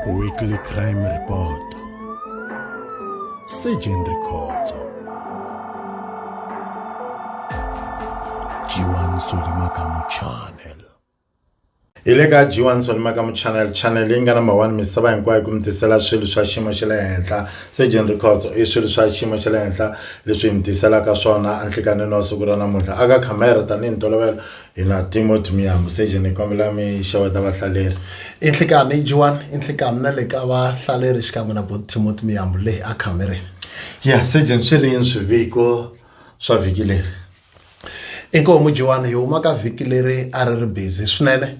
Weekly Crime Report Surgeon Records Jiwan Solimakamu Channel hi le ka jiwan solimakamu channel channel leyi nga number one misava hinkwayo ku mi tisela swilo swa xiyimo xa le henhla surgeon records i swilo swa xiyimo xa le henhla leswi hi mi tiselaka swona enhlikanini wa siku ra namuntlha aka khamera tanihi ntolovelo hina timothy miyambu seje ni kombela mi xeweta vahlaleri i nhlikani yi jiwani i nhlikani na le ka vahlaleri xikan'we na bot timothy miyambu leyi a khamerini ya sejen swi ri yini swiviko swa vhiki leri inkoho mujiwani hi huma ka vhiki leri a ri ri busy swinene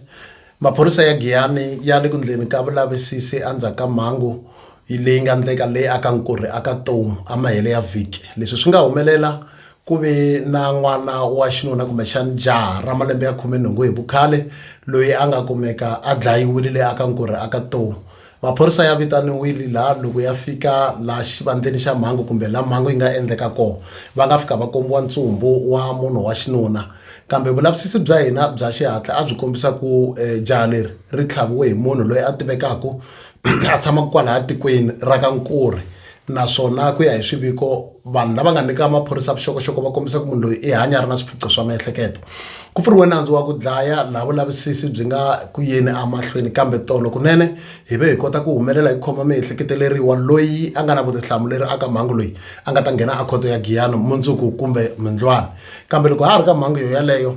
maphorisa ya giyani ya le ku ndleni ka vulavisisi endzhaku ka mhangu leyi nga ndleka leyi aka nkurhi aka tomu amahele ya vhiki leswi swi nga humelela ku ve na n'wana wa xinuna kumbexani jaha ra malembe ya khume nhungu hi vukhale loyi a nga kumeka a dlayiwile le aka nkurhi aka tomu maphorisa ya vitaniwile laha loko ya fika laha xivandzeni xa mhangu kumbe laha mhangu yi nga endleka kona va nga fika va kombiwa ntsumbu wa munhu wa xinuna kambe vulavisisi bya hina bya xihatla a byi kombisa ku um jaha leri ri tlhaviwe hi munhu loyi a tivekaka a tshamaka kwalaya tikweni ra ka Nkuri naswona ku ya hi swiviko vanhu lava nga nyika maphorisa vuxokoxoko va kombisa ku munhu loyi i hanya ri na swiphiqo swa miehleketo ku pfuriwe nandzu wa ku dlaya laha vulavisisi byi nga ku yeni emahlweni kambe tolo kunene hi ve hi kota ku humelela hi khoma miehleketeleriwa loyi a nga na vutihlamuleri aka mhangu loyi a nga ta nghena a khoto ya giyano mundzuku kumbe mundlwana kambe loko ha ha ri ka mhangu yo yaleyo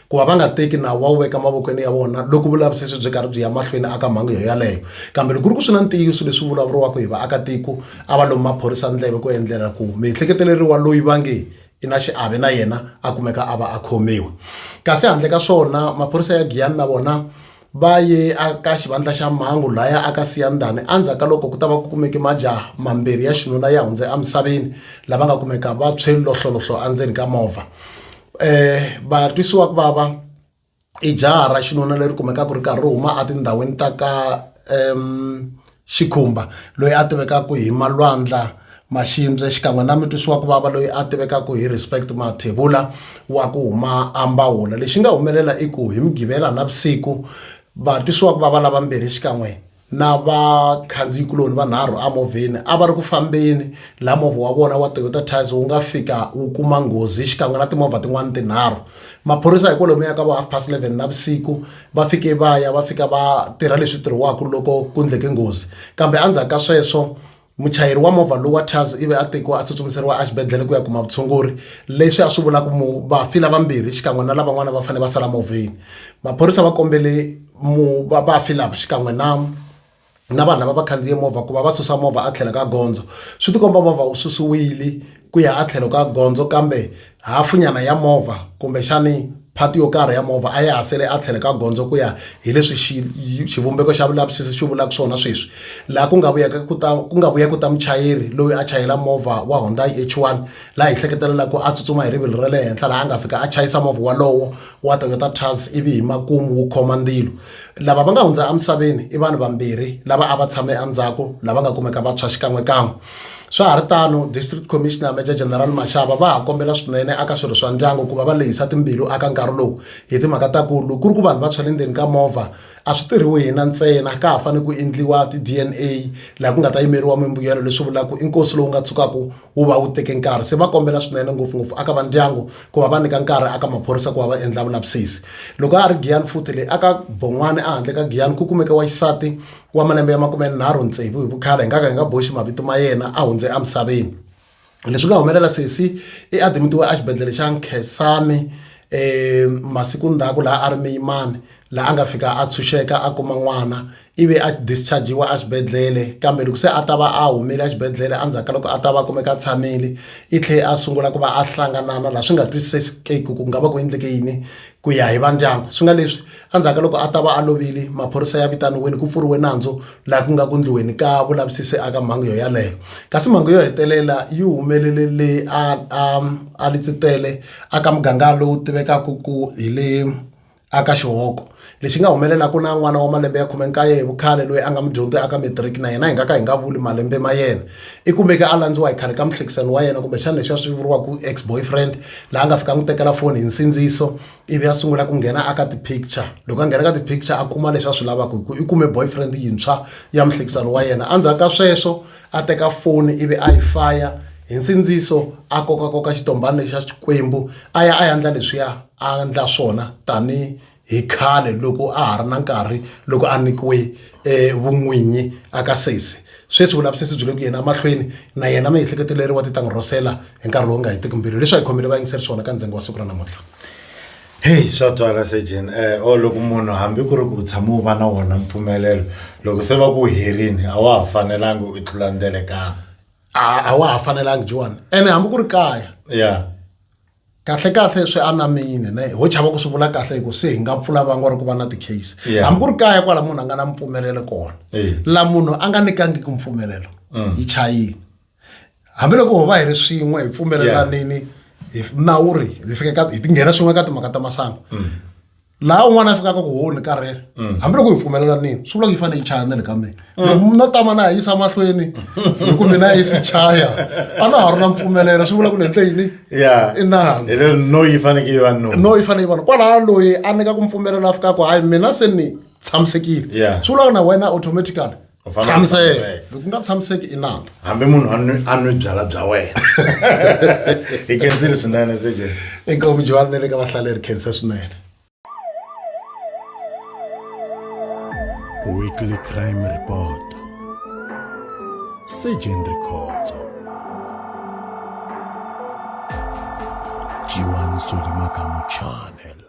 ku va va nga teki nawu va wu veka mavokweni ya vona loko vulavisisi byi karhi byi ya mahlweni aka mhangu yo yaleyo kambe loko ku ri ku swi na ntiyiso leswi vulavuriwaka hi vaakatiko a va lomu maphorisa ndleve ku endlela ku miehleketeleriwa loyi va nge i na xiave na yena a kumeka a va a khomiwa kasi handle ka swona maphorisa ya giyani na vona va ye aka xivandla xa mhangu laya aka siyandani andzhaku ka loko ku ta va ku kumeke majaha mambirhi ya xinuna ya hundze emisaveni lava nga kumeka va tshwe lohlolohlo endzeni ka movha um vatwisiwa ku vava i jaha ra xinuna leri kumekaka ri karhi ri huma etindhawini ta ka um Xikhumba, loyi a tivekaka hi Malwandla Maxindze xikan'we na mutwisiwakuvava loyi a tivekaka hi Respect Mathebula wa ku huma Ambawula. Lexi nga humelela i ku hi Mugqivela navusiku, vatwisiwakuvava lavambirhi xikan'we na vakhandziyikuloni vanharhu emovheni a va ri ku fambeni laha movha wa vona wa Toyota Tazz wu nga fika wu kuma nghozi xikan'we na timovha tin'wana tinharhu. Maphorisa hi kwalomuya ka vo half past 11 navusiku va fike va ya va fika va tirha leswi tirhiwaka loko ku ndleke nghozi kambe endzhaku ka sweswo muchayeri wa movha lowu wa tars ivi a tekiwa a tsutsumiseriwa exibedhlele ku ya kuma vutshunguri leswi a swi vula ku mu vafi lavambirhi xikan'we na lavan'wana va fanele va sala movheni maphorisa va kombele mu vafi lava xikan'we na na vanhu lava va khandziye movha ku va va susa movha a tlhelo ka gondzo swi tikomba movha wu susiwile ku ya a tlhelo ka gondzo kambe hafunyana ya movha kumbexani phati yo karhi ya movha a ya ha sele a tlhelo ka gondzo ku ya hi leswi xivumbeko xa vulavisisi xi vulaka swona sweswi laha ku nga vuyaka ku ta ku nga vuya ku ta muchayeri loyi a chayela movha wa Hyundai H1 laha hi hleketelelaka ku a tsutsuma hi rivilo ra le henhla laha a nga fika a chayisa movha walowo wa Toyota Tazz ivi hi makumu wu khoma ndzilo Lava va nga hundza emisaveni i vanhu vambirhi lava a va tshame endzhaku lava nga kumeka va tshwa xikan'wekan'we. Swa ha ri tano, District Commissioner Major General Mashaba va ha kombela swinene aka swirho swa ndyangu ku va va lehisa timbilu aka nkarhi lowu hi timhaka ta ku loko ku ri ku vanhu va tshwa le ndzeni ka movha a swi tirhiwi hina ntsena ka ha fanele ku endliwa ti-DNA laha ku nga ta yimeriwa mimbuyelo leswi vulaka ku i nkosi lowu nga tshukaka wu va wu teke nkarhi se va kombela swinene ngopfungopfu aka va ndyangu ku va va nyika nkarhi aka maphorisa ku va va endla vulavisisi loko a ha ri giyani futhi leyi aka bon'wana ehandle ka giyani ku kumeke wa xisati wa malembe ya makumenharhu tsevu hi vukhala hi nga ka hi nga boxi mavito ma yena a hundze emisaveni leswi nga humelela sesi i adimitiwe exibedhlele xa nkhesani um masiku ndzhaku laha a ri miyimani la a nga fika a tshunxeka a kuma n'wana ivi a dischargiwa exibedhlele kambe loko se a ta va a humile exibedhlele endzhaku ka loko a ta va kumeka a tshamile i tlhe a sungula ku va a hlanganana laha swi nga twisisekeki ku nga va ku endleke yini ku ya hi vandyangu swi nga leswi endzhaku ka loko a ta va a lovile maphorisa ya vitaniwile ku pfuriwe nandzu laha ku nga ku ndliweni ka vulavisisi aka mhangu yo yaleyo kasi mhangu yo hetelela yi humelele le a a a litsitele aka muganga lowu tivekaka ku hi le aka xihoko lexi nga humelelaka na n'wana wa malembe ya khume nkaye hi vukhale loyi a nga mudyondzi aka matric na yena hi nga ka hi nga vuli malembe ma yena i kumeke a landziwa hi khale ka muhlekisani wa yena kumbexana leswi a swi vuriwaka ex boyfriend laha a nga fika n'wi tekela foni hi nsindziso ivi a sungula ku nghena aka ti-picture loko a nghena ka ti-picture a kuma leswi a swi lavaka hi ku i kume boyfriend yintshwa ya muhlekisani wa yena endzhaku ka sweswo a teka foni ivi a yi faya hi nsindziso a kokakoka xitombhani lexi xa xikwembu a ya a ya ndla leswiya a ndla swona tani hi khale loko a ha ri na nkarhi loko a nyikiwe um vun'winyi aka sesi sweswi vulavisisi byi le ku yeni emahlweni na yena miehleketo leri wa ti ta n'wi rhosela hi nkarhi lowu nga hetiki mbirhi leswi a hi khomele vayingiseri swona ka ndzengo wa siku ra namuntlha Heyi swa twala sejeni um or loko munhu hambi ku ri ku u tshame u va na wona mpfumelelo loko se va ku herini a wa ha fanelanga u tlula ndelekana a a wa ha fanelanga jiwani ene hambi ku ri kaya ya kahle kahle swi anamile ne ho chava ku swi vula kahle hi ku se hi nga pfula vangwa ri ku va na ti-case Yeah. hambi ku ri kaya kwala munhu a nga na mpfumelelo kona Eh. la munhu a nga nikangiki mpfumelelo yi chayile hambiloko ho va hi ri swin'we hi pfumelelanini hi nawu ri hi fike ka hi tinghena swin'we ka timhaka ta masangu mm. laha un'wana a fikaka ku ho ni karhele mm. hambiloko hi pfumelelanini swi vula ku yi fanele yi chaya na le ka mina mm. loko no tama na ha yisa mahlweni hi ku mina yi si chaya a na ha ri na mpfumelelo swi vula ku ni endle yini i nani no yi fanekele yi va no no yi fanele yi va no kwalaha loyi a nyika ku mpfumelela a fikaka hayi mina se ni tshamisekile swi vula ku na wena automatically tshamiseke loko nga tshamiseki i nandza hambi munhu a nwi a nwi byala bya wena hi khensile swinene sj inkomu jivani ne le ka vahlaleri khensa swinene weekly crime report sejen rikhotso jiwan solimakamu channel